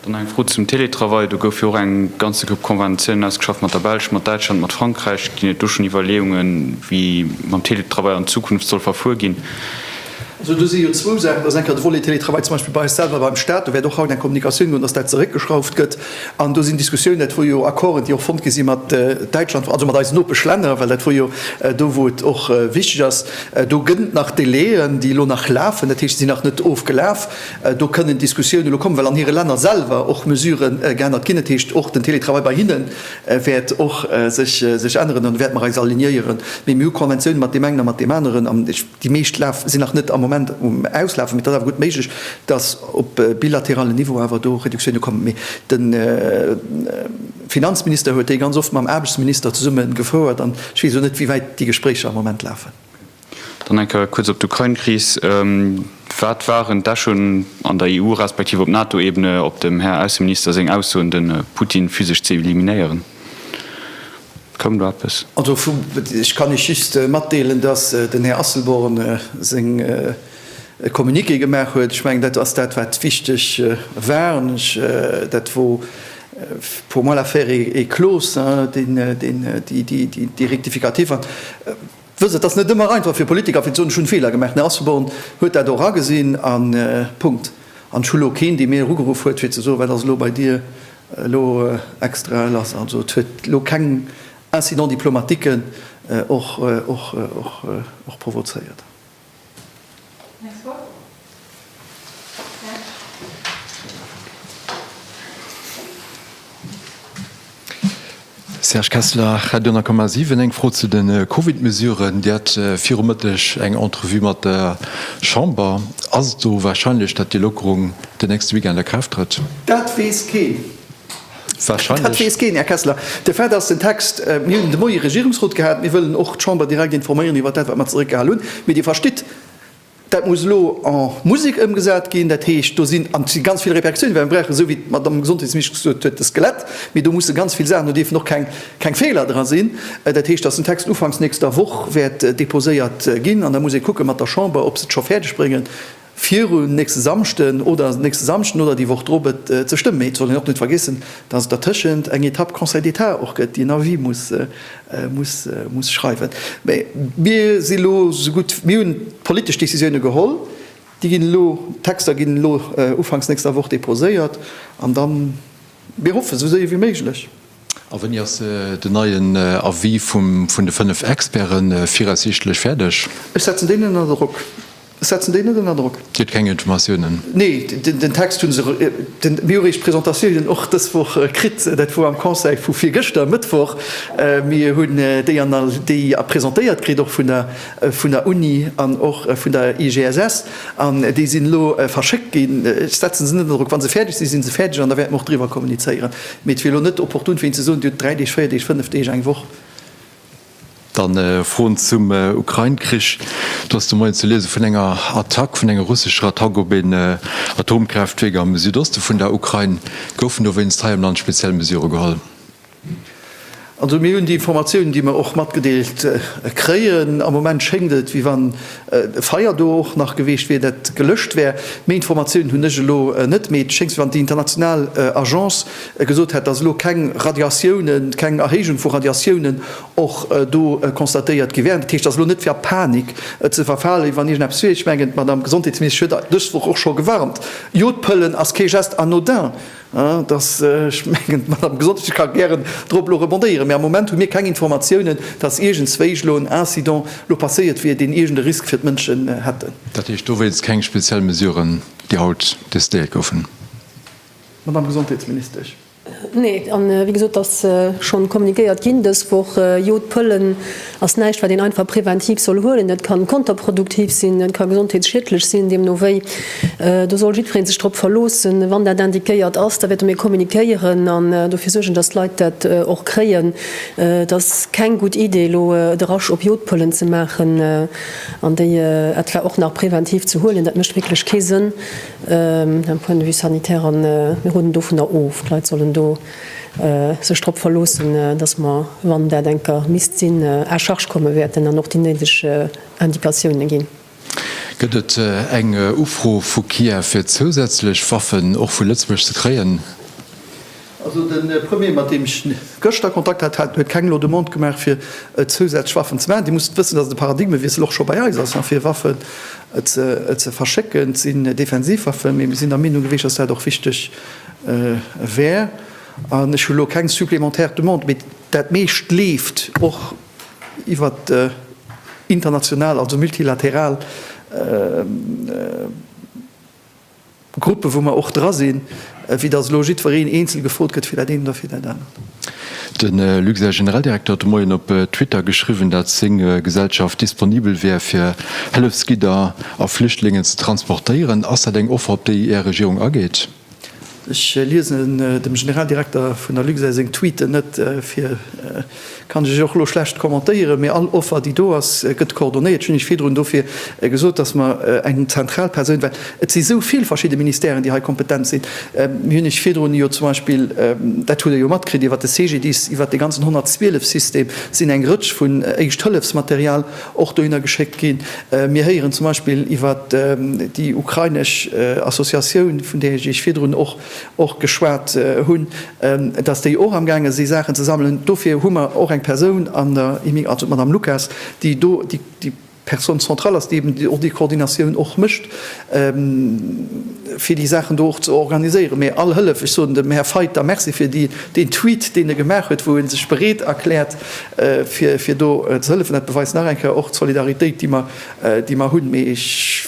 Dann eng Fro zum Télétravail. Do goufe jo och eng ganze Grupp Conventiounen ausgeschafft mat der Belsch, mat Däitschland, mat Frankräich. Ginn et do schonn Iwwerleeungen, wéi mam Télétravail an Zukunft soll verfuer ginn? Also do si jo zwou Saachen. Dat ass eng Kéier de Volet Télétravail zum Beispill bei eis selwer beim Staat. Do wäert och haut eng Kommunikatioun goen, dass dat zeréckgeschrauft gëtt. An do sinn Diskussiounen, dat wor jo Accorden, déi och fonnt gi si mat Däitschland, also mat eisen Nopeschlänner, well dat wor jo do, wou et och wichteg ass. Do gëtt et nach Délai'en, déi elo nach lafen, dat heescht, se sinn nach net ofgelaf. Do kënnen Diskussiounen elo kommen, well an hire Länner selwer och Mesurë geännert ginn. Dat heescht, och den Teletravail bei hinne wäert och sech änneren. An do wäerte mer eis alignéiere. Mee mir hu Konventioune mat deem engen a mat deem aneren. An déi meescht sinn nach net am Moment um Auslafen. Mee et ass awer gutt méiglech, datt op bilateralem Niveau awer do Reduktioune kommen. Mee de Finanzminister huet déi ganz oft mam Aarbechtsminister zesumme gefouert. An ech weess elo net, wéi wäit déi Gespréicher am Moment lafen. Dann eng Kéier kuerz op d'Ukrain-Kris. Wat waren d'Echoen an der EU respektiv op NATO-Ebene op dem Här Ausseminister seng Aussoen, de Putin physesch ze eliminéieren? Koum do eppes? Also ech kann Iech just matdeelen, datt den Här Asselborn seng e Communiqué gemaach huet. Ech mengen, dat ass dat, wat wichteg war. An ech, dat wor pour moi l'affaire est close, déi Rectificative. Wësst, et ass net ëmmer einfach fir Politiker fir ze soen, ech hunn Feeler gemaach. Den Här Asselborn huet dat och agesinn a Punkt. An ech hu elo keen, dee mir elo ugeruff huet, fir ze soen, wat ass elo bei dir elo extra lass. Also et huet elo keng Incidents diplomatiques och provozéiert. Serge Kessler, Radio 10,7, Eng Fro zu de Covid-Mesuren. Dir hat viru Mëtteg eng Entrevue mat der Chamber. Ass et do warscheinlech, datt déi Lockerung de nächste Weekend a Kraaft trëtt? Dat weess keen. Dat weess keen, Här Kessler. De Fait ass, den Text, mir hunn de Moie e Regierungsrot gehat, mir wëllen och d'Chamber direkt informéieren iwwert dat, wat mer zeréckgehal hunn. Mee Dir verstitt, dat muss elo en Musek ëmgesat ginn. Dat heescht, do sinn ganz vill Repercussiounen, well mir brauchen, esou wéi d'Madamm Gesondheetsministesch gesot huet, de Skelett. Mee do musse ganz vill Saachen, do dierfen och keng Feeler dra sinn. Dat heescht, datt den Text ufanks nächster Woch wäert deposéiert ginn an da muss ee kucke mat der Chamber, ob se et scho fäerdeg bréngen, Virun nächste Samschden oder nächste Samschden oder déi Woch drop et ze stëmmen. Mee et soll een och net vergeessen, dass et dertëschent eng Etapp Conseil d'État och gëtt, déi en Avis muss muss schreiwen. Mee mir si elo esou gutt, mir hunn d'politesch Décisioune geholl. Déi ginn elo, d'Texter ginn elo ufanks nächster Woch deposéiert an da mir hoffen, esou séier wéi méiglech. A wéini ass den neien Avis vun de fënnef Experte viraussiichtlech fäerdeg? Ech setzen déi net ënner Drock. Ech setzen déi net ënner Drock. Dir hutt keng Informatiounen? Nee, den Text hu se, mir hu réischt d'Presentatiounen och dës Woch kritt, dat wor am Conseil vu virgëschter, Mëttwoch. Mir hunn déi presentéiert kritt, och vun der Uni an och vun der IGSS, an déi sinn elo verschéckt ginn. Ech setze se net ënner Drock. Wa se fäerdeg sinn, si se fäerdeg, an da wäerte mer och driwwer kommunizéieren. Mee et wier elo net opportun, fir hinnen ze soen, Dir hutt dräi Deeg, véier Deeg, fënnef Deeg, eng Woch. Dann Froen zum Ukrain-Krich. Do ass de Moien ze liese vun enger Attack, vun enger russescher Attack op een Atomkraaftwierk am Südoste vun der Ukrain. Goufen dowéinst hei am Land speziell Mesure geholl? Also mir hunn déi Informatiounen, déi mer och matgedeelt kréien. Am Moment schéngt et, wéi wann e Feier do och nach geweecht wier, dat gelëscht wär. Méi Informatiounen hunn ech elo net. Mee et schéngt, wéi wann déi international Agence gesot hätt, dass elo keng Radiatiounen, keng Erhéijung vu Radiatiounen och do constatéiert gi wären. Dat heescht, et ass elo net fir a Panik ze verfalen, wéi wann iergend eppes wier. Ech mengen, d'Madame Gesondheetsministesch huet dës Woch och scho gewarnt, Jo, d'Pëllen ass kee Geste anodin. Dass, ech mengen, d'Madame Gesondheitsministesch ka gären drop elo rebondéieren, mä am Moment hu mir keng Informatiounen, dass iergendzwéi elo en Incident elo passéiert wier, deen iergend e Risk fir d'Mënschen hätte. Dat heescht dowéinst keng speziell Mesuren, déi haut decidéiert goufen? Madame Gesondheetsministesch. Nee, a wéi gesot, et ass schonn kommuniquéiert ginn dës Woch, jo, d'Pëllen ass näischt wat een einfach präventiv soll huelen. Dat kann konterproduktiv sinn, dat ka gesondheetsschiedlech sinn. Deemno wéi, do soll jiddweree sech drop verloossen, wann dat indiquéiert ass, da wäerte mir kommuniquéieren an dofir suergen, dass d'Leit dat och kréien. Et ass keng gutt Idee elo de Rush op Jodpëllen ze maachen an déi etwa och nach präventiv ze huelen. Dat mécht wierklech kee Sënn d'un point de vue sanitaire an mir roden dovunner of, d'Leit sollen do sech drop verloossen, dass mer, wann dat eng Kéier misst sinn, à charge komme wäerten an och déi néideg Indikatiounen ginn. Gëtt et eng Ufro vu Kiew fir zousätzlech Waffen och vu Lëtzebuerg ze kréien? Also de Premier, mat deem ech gëschter Kontakt hat, hat, huet keng elo Demande gemaach fir zousätzlech Waffen ze maachen. Dir musst wëssen, dass et e Paradigmewiessel och scho bei eis ass, fir Waffen ze verschécken. Et sinn Defensivwaffen, mee mir sinn der Meenung gewiescht, dass dat och wichteg wär. An ech hu lo keng supplémentaire Demande, mee dat meescht leeft och iwwert international, also multilateral Gruppen, wou mer och dra sinn, wéi datt elo jiddwereen eenzel gefrot gëtt fir dat eent oder fir dat anert. De Luxair Generaldirekter huet de Moien op Twitter geschriwwen, dat seng Gesellschaft disponibel wär fir Hëllefsgidder a Flüchtlingen ze transportéieren. Ass dat eng Offer op déi Är Regierung ageet? Ech liesen dem Generaldirekter vun der Luxair seng Tweeten net fir, kann ech och elo schlecht kommentéieren. Mee all Offer déi do ass gëtt coordonéiert, dat hunn ech virdrun dofir gesot, datt mer eng zentral Persoun, well Et si sou vill verschidde Ministèren, déi hei kompetent sinn. Mir hunn Iech virdrun jo zum Beispill, dat hutt Der jo matkritt, iwwert de CGDIS, iwwert dee ganzen 112 System sinn eng Rëtsch vun Éischthëllefsmaterial och dohinner geschéckt ginn. Mir héieren zum Beispill iwwert déi ukrainesch Associatioun, vun där ech Iech virdrun och geschwat hunn, dass déi och amgaange si Saachen ze sammelen. Dofir hu mer och eng Persoun an der, also d'Madame Lucas, déi do déi Personne centrale ass, déi eben och déi Koordinatioun och mécht, fir déi Saachen do och ze organiséieren. Mee all Hëllef, ech soen dem Här Fayt da Merci fir deen Tweet, deen e gemaach huet, wou e sech bereet erkläert, fir do ze hëllefen, dat beweist nach eng Kéier och d'Solidaritéit, déi mer hunn. Mee ech.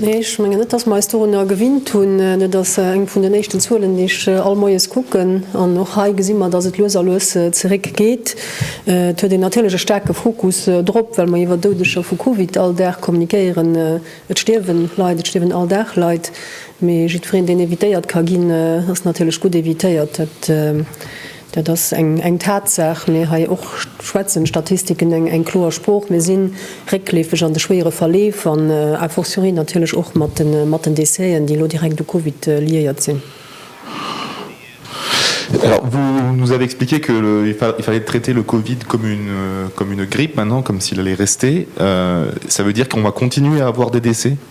Nee, ech mengen net, dass mer eis dorunner gewinnt hunn. Et ass eng vun den éischten Zuelen, déi ech all Moies kucken. An och hei gesi mer, dass et lues a lues zeréckgeet. Et huet een natierlech e staarke Fokus drop, well mer iwwer Doudeger vu Covid all Dag kommunikéieren. Et stierwe Leit, et stierwen all Dag Leit. Mee jiddwereen, deen evitéiert ka ginn, ass natierlech gutt evitéiert. Dat ass eng Tatsaach. Mee hei och schwätzen d'Statistiken eng kloer Sprooch. Mir si réckleefeg an de schwéiere Verleef an a fortiori natierlech och mat den Décèsen, déi elo direkt u Covid liéiert sinn. Alors, vous nous avez expliqué qu'il fallait traiter le Covid comme une grippe maintenant, comme s'il allait rester. Ça veut dire qu'on va continuer à avoir des décès?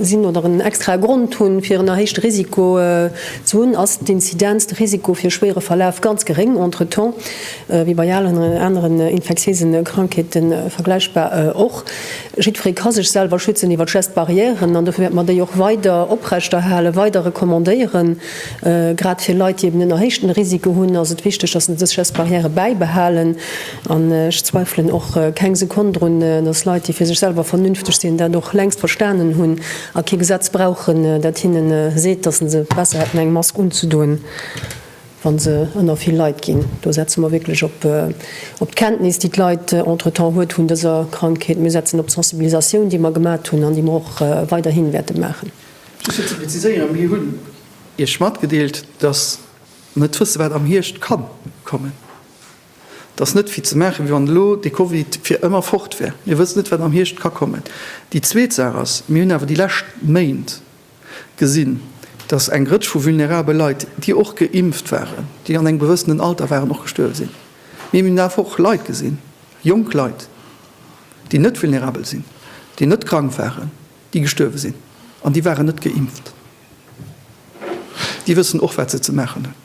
sinn oder en extrae Grond hunn, fir en erhéichte Risiko ze hunn, ass d'Inzidenz, de Risiko fir e schwéiere Verlaf, ganz geréng, entretemps, wéi bei allen aneren infektiéise Krankheete vergläichbar och. Jiddweree ka sech selwer schützen iwwer d'Geste-barrièren an dofir wäerte mer déi och weider oprechterhalen, weider recommandéieren. Grad fir Leit, déi eben en erhéichten Risiko hunn, ass et wichteg, dass se dës Geste-barrièrë bäibehalen. An ech zweifelen och keng Sekonn drun, dass Leit, déi fir sech selwer vernünfteg sinn, dat och längst verstanen hunn a kee Gesetz brauchen, dat hinne seet, dass se se besser hätten, eng Mask unzedoen, wa se ënner vill Leit ginn. Do setze mer wierklech op d'Kenntnis, déi d'Leit entretemps huet vun dëser Krankheet. Mir setzen op d'Sensibilisatioun, déi mer gemat hunn an déi mer och weiderhi wäerte maachen. Just fir ze preziséieren, Mir hunn Iech matgedeelt, dass mer net wësse, wat am Hierscht ka kommen. Et ass net, fir ze maachen, wéi wann elo de Covid fir ëmmer fort wär. Mir wëssen net, wat am Hierscht ka kommen. Déi zweet Saach ass, Mir hunn awer déi lescht Méint gesinn, dass eng Rëtsch vu vulnerabel Leit, déi och geimpft waren, déi an engem gewëssenen Alter waren, och gestuerwe sinn. Mee mir hunn awer och Leit gesinn, jonk Leit, déi net vulnerabel sinn, déi net krank waren, déi gestuerwe sinn, an déi waren net geimpft. Déi wëssen och, wat se ze maachen hunn.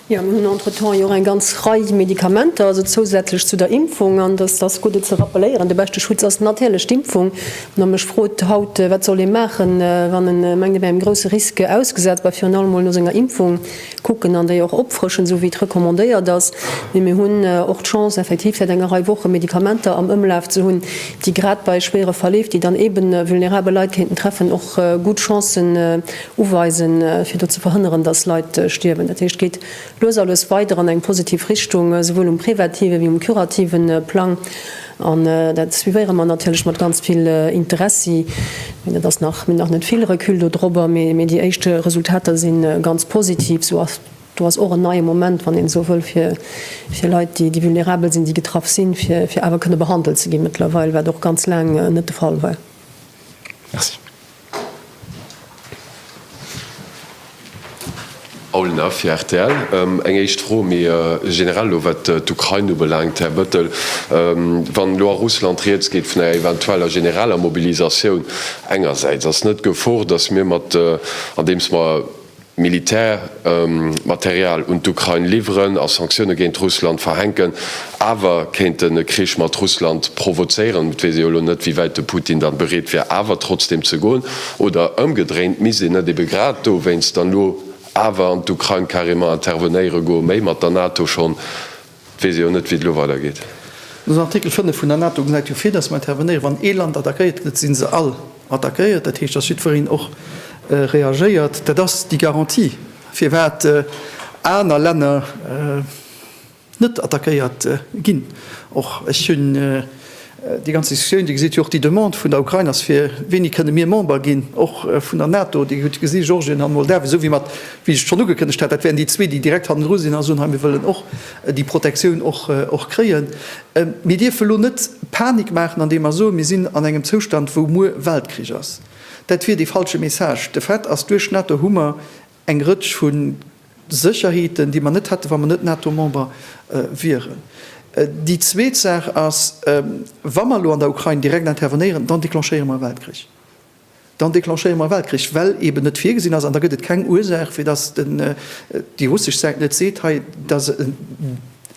Jo, mir hunn entretemps jo och eng ganz Rei Medikamenter, also zousätzlech zu der Impfung, an et ass gutt et ze rappelléieren, de beschte Schutz ass natierlech d'Impfung. Ma mech frot haut, wat soll ee maachen, wann e mengt, e wär engem grousse Risque ausgesat? Bah, virun allem mol no senger Impfung kucken an déi och opfrëschen, esou wéi et recommandéiert ass. Mee mir hunn och d'Chance, effektiv säit enger Rei Woche Medikamenter am Ëmlaf ze hunn, déi grad bei schwéiere Verleef, déi dann eeben vulnerabel Leit kéinten treffen, och gutt Chancen, Uweisen, fir do ze verhënneren, dass Leit stierwen. Dat heescht, geet lues a lues weider an eng positiv Richtung, souwuel um prevative ewéi um curative Plang. An dat suivéiere mer natierlech mat ganz vill Interessi. Mee dat ass nach, mir hunn nach net vill Recul dodrobber, mee déi éischt Resultater si ganz positiv. Esou ass do ass och en neie Moment, wann een esou wëll, fir Leit, déi vulnerabel sinn, déi getraff sinn, fir awer kënne behandelt ze gi mëttlerweil, wat och ganz laang net de Fall war. Merci. Paul Neff, rtl, Eng éischt Fro méi generell elo, wat d'Ukrain ubelaangt, Här Bettel. Wann elo a Russland rieds geet vun enger eventueller generaler Mobilisatioun engersäits, ass net d'Gefor, datt mir mat, andeems mer, Militärmaterial un d'Ukrain liwweren a Sanktioune géint Russland verhänken, awer kéinten e Krich mat Russland provozéieren. Et weess ee jo elo net, wéi wäit de Putin dann bereet wier, awer trotzdeem ze goen. Oder ëmgedréint, Misst een net ebe grad dowéinst dann elo awer an d'Ukrain carrément intervenéiere goen, méi mat der NATO schonn Weess io net wéi et elo weider geet. Den Artikel 5 vun der NATO gesäit jo vir, datt mer intervenéieren, wann ee Land attackéiert gëtt, sinn se all attackéiert. Dat heescht, datt jiddwereen och reagéiert. Dat ass déi Garantie, firwat aner Länner net attackéiert ginn. Och ech hunn. Déi ganz Diskussioun, Dir gesitt jo och déi Demande vun der Ukrain ass fir, Wéini kënne mir Member ginn, och vun der NATO? Dir hutt gesi Georgien an Moldawien, esou wéi mer, wéi ech et schonn ugekënnegt hat, dat wären déi zwee, déi direkt hannendru sinn a soen, hei mir wëllen och déi Protektioun och kréien. Mir dierfen elo net Panik maachen, andeem mer soen, mir sinn an engem Zoustand, wou muer Weltkrich ass. Dat wier dee falsche Message. De Fait ass, duerch d'NATO hu mer, Eng Rëtsch vu Sécherheeten, déi mer net hätten, wa mer net NATO-Member wieren. Déi zweet Saach ass, Wa mer elo an der Ukrain direkt intervenéieren, dann declenchéiere mer e Weltkrich. Dann declenchéiere mer e Weltkrich, well eeben net virgesinn ass, an da gëtt et keng Ursaach, fir datt déi russesch Säit net seet, Hei, da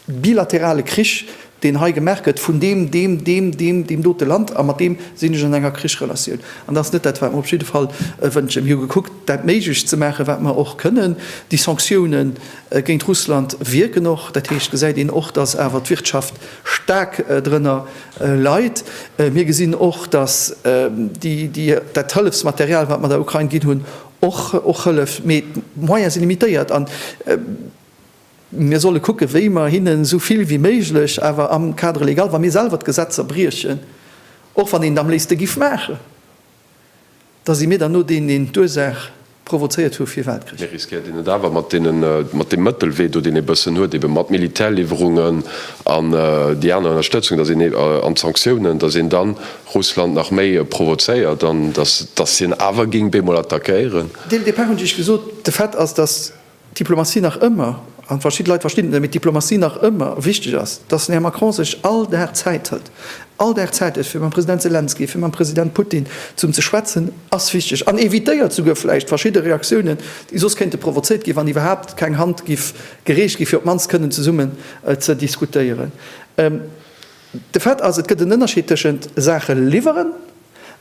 bilaterale Krich, deen hei gemaach gëtt vun deem, deem, deem, deem, deem dote Land, a mat deem sinn ech an enger Krichsrelatioun. An dat ass net dat, wat mer op jidde Fall wënschen. Mir hu gekuckt, dat Méiglecht ze maachen, wat mer och kënnen. Déi Sanktioune géint Russland wierken och. Dat heescht, gesäit een och, datt awer d'Wirtschaft staark drënner leit. Mir gesinn och, datt dat Hëllefsmaterial, wat mer der Ukrain ginn hunn, och hëlleft. Mee d'Moyene si limitéiert. Mir solle kucken, wéi mer hinnen esou vill wéi méiglech, awer am Cadre légal, wa mir selwer d'Gesetzer briechen, och wann een et am léifste giff maachen, da si mir dann no deen, deen d'Ursaach provozéiert hu fir wat kritt. Mir riskéiert een et awer mat deenen, mat deem Mëttelwee do, deen ee bëssen huet, ebe mat Militärliwwerungen an déi aner Ënnerstëtzung, dass een ee, an Sanktiounen, dass een dann Russland nach méi provozéiert an dass, dass hien awer géing bemol attackéieren. Dès le départ hunn ech Iech gesot, de Fait ass, dass. Diplomatie nach ëmmer, an verschidde Leit verstinn et net, mee d'Diplomatie nach ëmmer wichteg ass, dass den Här Macron sech all Dag Zäit hëlt, all Dag Zäit huet fir mam President Selenskyj, fir mam President Putin zum ze schwätzen, ass wichteg an evitéiert souguer vläicht verschidde Reaktiounen, déi soss kéinte provozéiert ginn, wann iwwerhaapt keng Hand giff gereecht ginn, fir op d'mannst kënnen zesummen ze diskutéieren. De Fait ass, et gëtt en Ënnerscheed tëschent Saache liwweren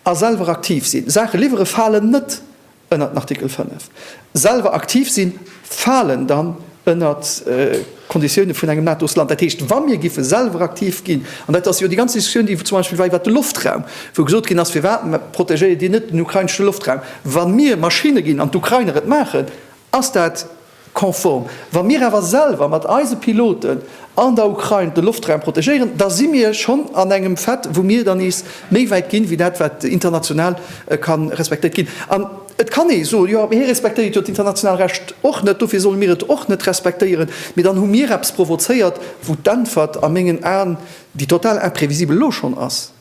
a selwer aktiv sinn. Saache liwwere falen net ënnert den Artikel 5 selwer aktiv sinn, falen dann ënnert d'Konditioune vun engem NATO-Land. Dat heescht, wa mir giffe selwer aktiv ginn, an dat ass jo déi ganz Diskussioun, déi zum Beispill war iwwert de Loftraum, wou gesot ginn ass, firwat protegéiert Dir net den ukrainesche Loftraum, wa mir Maschinne ginn an d'Ukrainer et maachen, ass dat, Konform. Wa mir awer selwer mat eise Piloten an der Ukrain de Loftraum protegéieren, da si mir schonn an engem Fait, wou mir dann nees méi wäit ginn, wéi dat wat international ka respektéiert ginn. An et kann ee soen, jo, mee hie respektéiert jo d'international Recht och net, dofir solle mir et och net respektéieren. Mee dann hu mir eppes provozéiert, wou d'Äntwert a mengen Aen, déi total imprévisible elo schonn ass.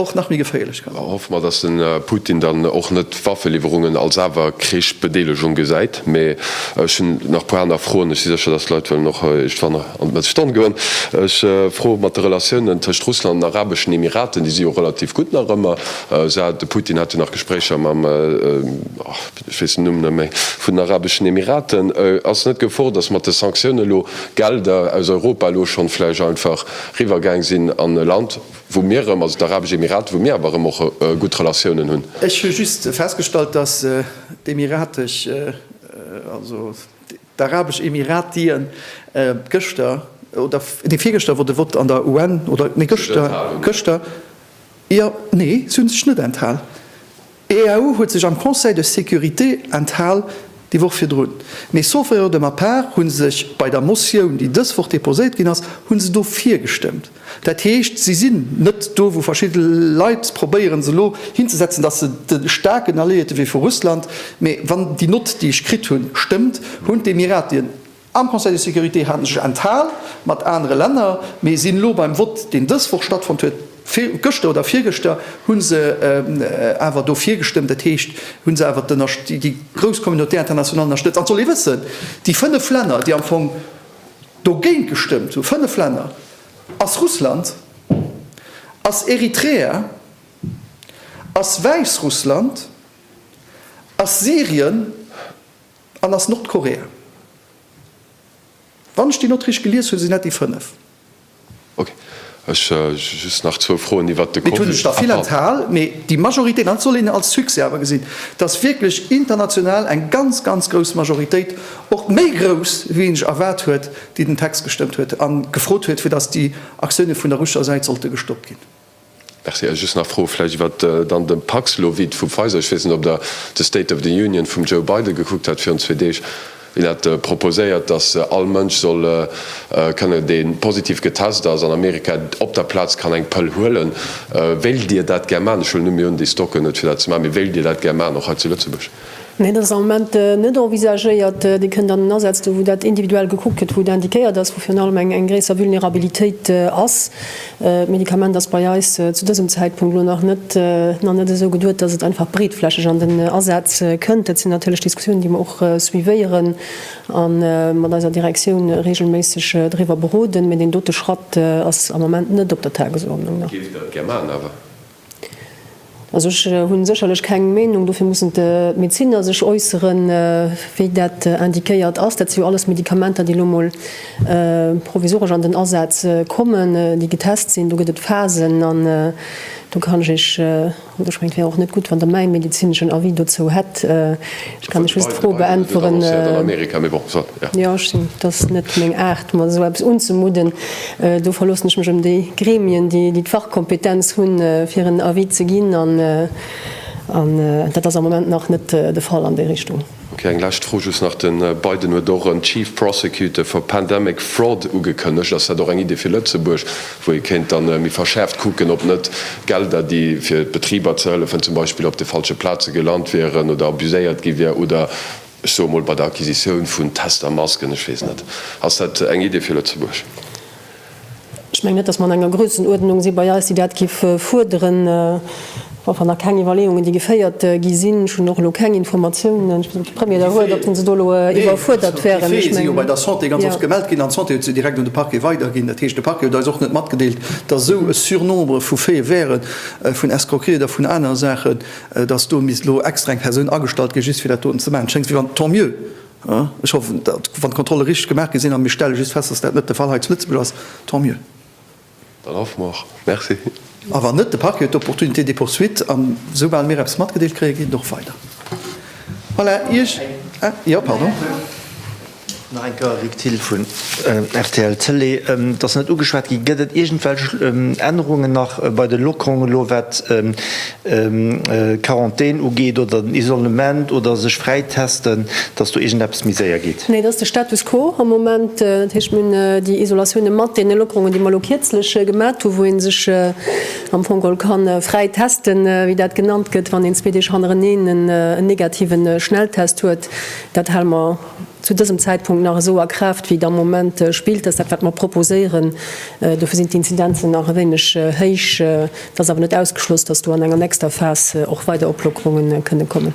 och nach méi geféierlech kann. Hoffe mer, dass den Putin dann och net Waffeliwwerungen als awer Krichsbedeelegung gesäit. Mee ech hunn nach e puer aner Froen. Ech si sécher, dass d'Leit wëllen och iergendwann an d'Mëtt Stonn goen. Ech froe mat de Relatiounen tëscht Russland an Arabeschen Emiraten, déi si jo relativ gutt nach ëmmer. De Putin hat jo nach Gespréicher mam, ech weess den Numm net méi, vun den Arabeschen Emiraten. Ass net d'Gefor, dass mat de Sanktioune lo Gelder aus Europa elo schonn vläicht einfach riwwer gaang sinn an e Land, wou mir erëm, also d'Arabesch Emiraten, wou mir awer erëm och gutt Relatiounen hunn. Ech hu just festgestallt, dass d'Emiratesch, also d'Arabesch Emiratien gëschter, oder nee, virgëschter wor de Vott an der UN, oder nee, gëschter, gëschter, jo, nee, se hunn sech net enthal. D'EU huet sech am Conseil de sécurité enthal déi Woch virdrun, mee sauf erreur de ma part hu sech bei der Motioun, déi dës Woch déposéiert ginn ass, hu se dofir gestëmmt. Dat heescht, si sinn net do, wou verschidde Leit probéieren se elo hinzesetzen, dass se de staarken Alliéierte wéi vu Russland, mee wann déi Nott, déi ech kritt hunn, stëmmt, hunn d'Emiratien, Am Conseil de sécurité hat en sech enthal, mat anere Länner, mee sinn elo beim Vott, deen dës Woch stattfonnt huet, gëschter oder virgëschter, hu se awer dofir gestëmmt, dat heescht, hu se awer déi grouss Communauté internationale ënnerstëtzt. An et soll ee wëssen, déi fënnef Länner, déi am Fong dogéint gestëmmt hunn, fënnef Länner, ass Russland, ass Eritrea, ass Wäissrussland, ass Syrien An ass Nordkorea. Wann ech déi Nott richteg gelies hunn, sinn dat déi 5. Ok. Ech just nach zwou Froen iwwert de Covid. Mee et hunn sech der vill enthal. Mee déi Majoritéit, an dat soll een als Succès awer gesinn, et ass wierklech international eng ganz, ganz grouss Majoritéit, och méi grouss wéi een sech erwaart huet, déi den Text gestëmmt huet a gefrot huet, fir datt déi Aktioune vun der russescher Säit sollte gestoppt ginn. Merci. Ech just nach Froe vläicht iwwer dann de Paxlovid vu Pfizer. Ech weess net, ob Der de State of the Union vum Joe Biden gekuckt hat virun zwee Deeg. Hien hat proposéiert, datt all Mënsch soll kënnen, dee positiv getest ass an Amerika, op der Plaz kann eng Pëll huelen. Wéilt Dir dat gär maachen? Ech huelen net méi un, déi Stocken et fir dat ze maachen. Mee wéilt Dir dat gär maachen, och hei zu Lëtzebuerg? Nee, dat ass am Moment net envisagéiert. Dir kënnt an en Asaz do, wou dat individuell gekuckt gëtt, wou et indiquéiert ass, wou virun allem eng gréisser Vulnerabilitéit ass. D'Medikament ass bei eis zu dësem Zäitpunkt elo nach net nach net esou geduet, dass et einfach breetflächeg an den Asaz kënnt. Dat sinn natierlech Diskussiounen, déi mer och suivéieren a mat eiser Direktioun reegelméisseg driwwer beroden. Mee deen dote Schratt ass am Moment net op der Tagesordnung, na. Géift Der et gär maachen awer? Also ech hunn sécherlech keng Meenung, dofir mussen d'Medeziner sech äusseren, wéi dat indiquéiert ass. Dat si jo alles Medikamenter, déi elo emol provisoresch an den Asaz kommen, déi getest sinn. Do gëtt et Phasen an do kann ech Iech, oder ech mengen, et wär och net gutt, wann Der mäi medezineschen Avis dozou hätt. Kann ech just d'Fro beäntweren? Jo, ech sinn, et ass net meng Aart, mer esou eppes unzemudden. Do verloossen ech mech op déi Gremien, déi d'Fachkompetenz hunn, fir en Avis ze ginn. An dat ass am Moment nach net de Fall an déi Richtung. Ok, eng lescht Fro just nach. De Biden huet och en Chief Prosecutor for Pandemic Fraud ugekënnegt. Ass dat och eng Idee fir Lëtzebuerg, wou ee kéint da méi verschäerft kucken, ob net d'Gelder, déi fir d'Betriber ze hëllefen, zum Beispill op de falsche Plaze gelant wieren oder abuséiert gi wier, oder, ech soe mol, bei der Acquisitioun vun Tester, Masken, ech weess net. Ass dat eng Idee fir Lëtzebuerg? Ech mengen net, datt mer an enger Grössenuerdnung si bei eis, déi dat géif fuerderen. Bon, wann da keng Iwwerleeungen, déi geféiert gi sinn, ech hunn och elo keng Informatiounen, ech weess net, ob de Premier da huet, ob se do elo iwwerfuerdert wären. D'Défaië si jo bei der Santé ganz oft gemellt ginn an d'Santé huet se direkt un de Parquet weiderginn. Dat heescht, de Parquet huet eis och net matgedeelt, datt esou e Surnombre vu Faite wäre vun Escroquerie oder vun anere Saachen, datt do misst elo extra eng Persoun agestallt ginn, just fir dat doten ze maachen. Et schéngt wéi wann, tant mieux, ech hoffen, datt wann d'Kontrolle richteg gemaach gi sinn, a mir stelle just fest, datt dat net de Fall hei zu Lëtzebuerg ass, tant mieux. Dann hoffe mer. Merci. A wann net, de Parquet huet d'Opportunité de poursuite an esoubal mir eppes matgedeelt kréien, geet et och weider. Voilà, Iech, jo, pardon. Nach eng Kéier, Luc Thill vu rtl Télé. Et ass net ugeschwat ginn. Gëtt et iergendwelch Ännerungen nach bei de Lockerungen elo, wat Quarantän ugeet oder den Isolement oder sech fräi testen, dass do iergendeppes méi séier geet? Nee, dat ass de Status quo am Moment. Dat heescht, mir hunn déi Isolatioune mat deene Lockerungen, déi mer elo kierzlech gemat hu wou ee sech am Fong geholl ka fräi testen, wéi dat genannt gëtt, wann een zwee Deeg hannereneen en negativen Schnelltest huet. Dat hale mer zu dësem Zäitpunkt nach esou a Kraaft wéi et am Moment spillt. Dat ass dat wat mer proposéieren. Dofir sinn d'Inzidenzen nach e wéineg héich. Et ass awer net ausgeschloss, dass do an enger nächster Phas och weider Oplockerunge kënnen kommen.